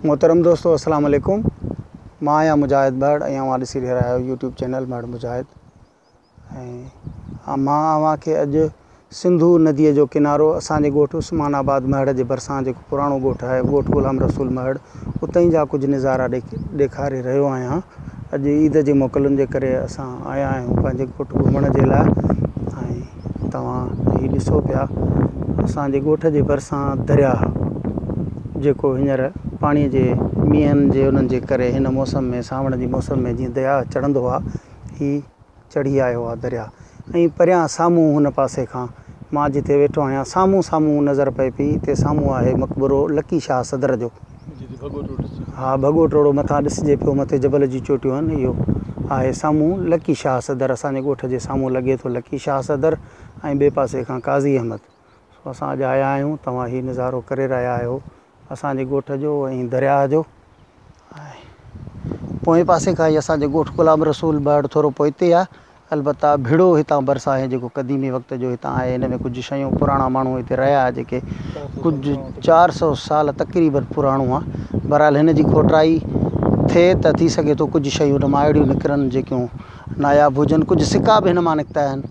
محترم دوستو السلام عليڪم مان آهيان مجاهد مهڙ ۽ اوهان ڏسي رهيا آهيو يوٽيوب چينل مهڙ مجاهد ۽ مان اوهان کي اڄ سنڌو نديء جو ڪنارو اسان جي ڳوٺ عثمان آباد مهڙ جي ڀرسان جيڪو پراڻو ڳوٺ آهي ڳوٺ غلام رسول مهڙ اتهين جا ڪجهه نظارا ڏيکاري رهيو آهيان اڄ عيد جي موڪلن جي ڪري اسان آيا آهيون پنهنجي ڳوٺ گهمڻ جي لاء ۽ توهان هي ڏسو پيا اسان جي ڳوٺ جي ڀرسان درياهه جيڪو هينئر پاڻي جي مينهن جي انهن جي ڪري هن موسم ۾ سانوڻ جي موسم ۾ جيئن درياهه چڙهندو آهي هي چڙهي آيو آ درياء ۽ پريان سامهون هن پاسي کان مان جتي ويٺو آهيان سامهون سامهون نظر پئي پئي تي سامهون آهي مقبرو لڪي شاهه صدر جو ها ڀڳو ٽوڙو مٿان ڏسجي پيو مٿي جبل جون چوٽيون آهن اهو آهي سامهون لڪي شاهه صدر اسان جي ڳوٺ جي سامهون لڳي ٿو لڪي شاهه صدر ۽ ٻئي پاسي کان قاضي احمد سو اسان اڄ آيا آهيون توهان هي نظارو ڪري رهيا آهيو اسان جي ڳوٺ جو ۽ درياهه جو آهي. پوئين پاسي کان ئي اسان جو ڳوٺ غلام رسول بهڙ ٿورو پوئتي آهي. البته ڀڙو هتان ڀرسان آهي جيڪو قديمي وقت جو هتان آهي. هن ۾ ڪجهه شيون پراڻا ماڻهو هتي رهيا ها جيڪي ڪجهه چار سئو سال تقريبن پراڻو آهي. بهرحال هن جي کوٽائي ٿئي ته ٿي سگهي ٿو ڪجهه شيون هن مان اهڙيون نڪرن جيڪيون ناياب هجن. ڪجهه سڪا به هن مان نڪتا آهن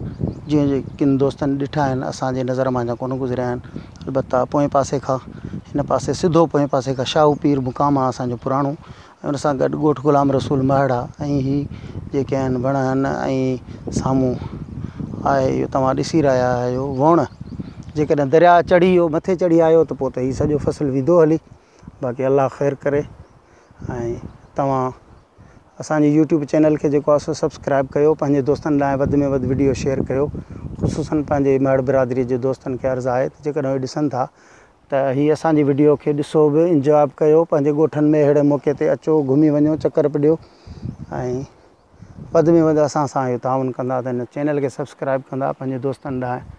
جيئن ڪن دوستن ڏٺا آهن اسان جي نظر مان اڃا ڪونه گذريا آهن. البته پوئين پاسي کان هن پاسي سڌو پوئين پاسي کان شاهو پير مقام آهي اسان جو پراڻو ۽ ان سان گڏ ڳوٺ غلام رسول مهڙ آهي ۽ هي جيڪي آهن وڻ آهن ۽ سامهون آهي اهو توهان ڏسي رهيا آهيو وڻ جيڪڏهن درياء چڙهي ويو مٿي چڙهي آيو ته پوء ته هي سڄو فصل ويندو هلي باقي الله خير ڪري ۽ توهان اسان جي يوٽيوب چينل کي جيڪو آهي سو سبسڪرائب ڪيو پنهنجي دوستن لاء وڌ ۾ وڌ وڊيو شيئر ڪيو خصوصن پنهنجي ميهڙ برادري جي دوستن کي عرض آهي ته جيڪڏهن اهي ڏسن ٿا ته هي اسان جي وڊيو کي ڏسو به انجواب ڪيو پنهنجي ڳوٺن ۾ اهڙي موقعي تي اچو گهمي وڃو چڪر به ڏيو ۽ وڌ ۾ وڌ اسان سان اهو تعاون ڪندا ته هن چينل کي سبسڪرائب ڪندا پنهنجي دوستن ڏانهن